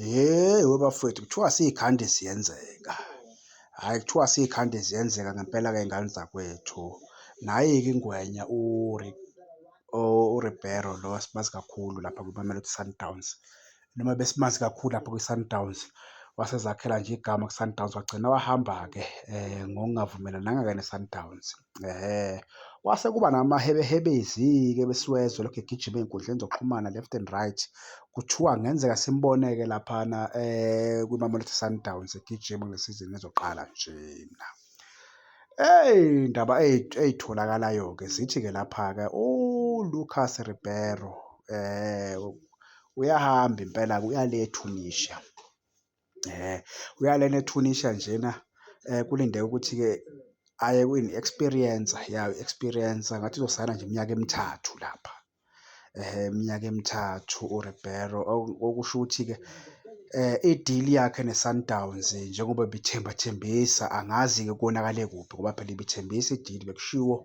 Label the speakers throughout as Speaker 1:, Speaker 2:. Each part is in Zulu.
Speaker 1: Hheyi webafowethu kuthiwa siy'khande ziyenzeka. Hhayi kuthiwa siy'khande ziyenzeka ngempela-ke y'ngane zakwethu. Nayi-ke ingwenya uRibeiro lo esimazi kakhulu lapha kwiMamelodi Sundowns. Noma besimazi kakhulu lapha kwiSundowns, wasezakhela nje igama kwiSundowns wagcina wahamba-ke ngokungavumelananga-ke neSundowns. Ehhe, kwase kuba namahebehebezi-ke besiwezwa elokhu egijima ey'nkundleni zokuxhumana left and right. Kuthiwa kungenzeka simbone-ke laphana kwiMamelodi Sundowns egijima kule sizini ezoqala njena. Iy'ndaba ey'tholakalayo-ke zithi-ke lapha-ke uLucas Ribeiro uyahamba impela-ke uya le eTunisia. Uya lena eTunisha njena kulindeke ukuthi-ke aye kwini experience ya experience ngathi uzosayina nje iminyaka emithathu lapha. Iminyaka emithathu uRibeiro okusho ukuthi-ke idili yakhe neSundowns njengoba ibithemba thembisa angazi-ke konakale kuphi ngoba phela ibithembisa idili bekushiwo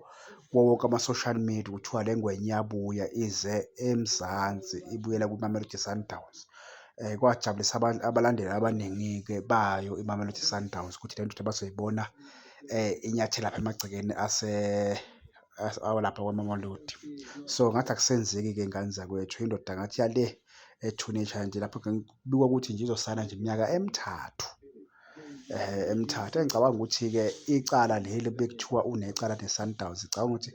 Speaker 1: kuwo wonke ama-social media kuthiwa le ngwenya iyabuya ize eMzansi ibuyela kwiMamelodi Sundowns. Kwajabulisa abalandeli abaningi-ke bayo iMamelodi Sundowns ukuthi le ndoda bazoyibona inyathela lapha emagcekeni awalapha kwaMamelodi. So, ngathi akusenzeki-ke ngane zakwethu, indoda ngathi yale ethuneni eshaya nje lapho kubikwa ukuthi nje izosayina nje iminyaka emithathu. eMthatha. Engicabanga ukuthi-ke icala leli bekuthiwa unecala neSundowns, ngicabanga ukuthi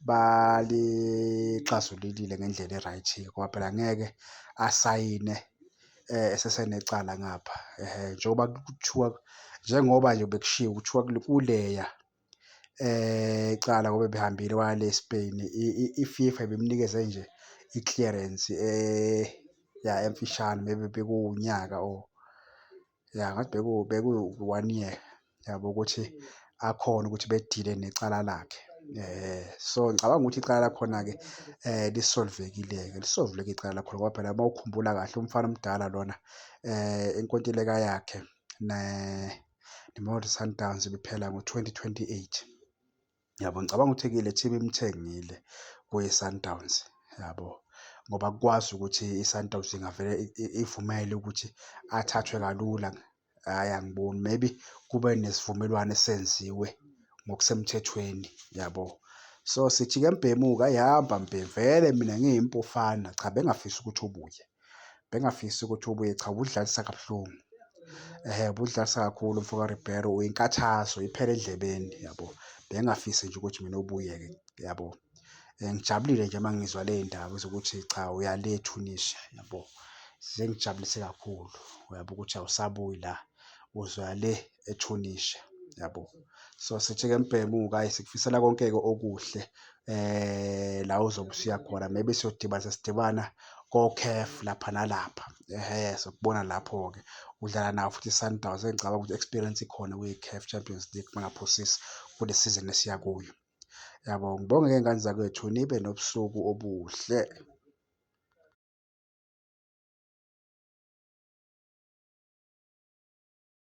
Speaker 1: balixazululile ngendlela e-right ngoba phela ngeke asayine esesenecala ngapha. Njengoba kuthiwa, njengoba nje bekushiwo kuthiwa kuleya icala ngoba ebehambile waya le e-Spain, i-FIFA ibimnikeze nje i-clearance ya emfishane maybe bekuwunyaka or. Ya ngathi beku beku one year yabo ukuthi akhona ukuthi bedile necala lakhe. Eh so ngicabanga ukuthi icala lakhona ke eh lisolvekile ke lisolveke icala lakhona ngoba phela uma ukhumbula kahle umfana omdala lona eh inkontileka yakhe ne neMamelodi Sundowns ibiphela ngo-2028. Yabo ngicabanga ukuthi kile team imthengile kwiSundowns yabo ngoba kukwazi ukuthi iSundowns ingavele ivumele ukuthi athathwe kalula hhayi angiboni maybe kube nesivumelwano esenziwe ngokusemthethweni yabo so sithi-ke mbhemu-ke ayihamba mbhemu vele mina ngiyimpufana cha bengafisi ukuthi ubuye bengafisi ukuthi ubuye cha ubudlalisa kabuhlungu eh budlalisa kakhulu mfoka Ribeiro uyinkathazo iphele edlebeni yabo bengafisi nje ukuthi mina ubuye ke yabo eh, ngijabulile nje mangizwa le ndaba zokuthi cha uyale Tunisia yabo sengijabulise kakhulu uyabo ukuthi awusabuyi la uzwa le eTunisia yabo so sithi ke mbhemuka sikufisela konke-ke okuhle eh la uzobe usuya khona maybe siyodibana sesidibana koCAF lapha nalapha ehe sokubona lapho-ke udlala nawo futhi iSundowns engicabanga ukuthi experience ikhona kwi-CAF Champions League bangaphosisi kule season esiya kuyo yabo ngibonge ke ngane zakwethu nibe nobusuku obuhle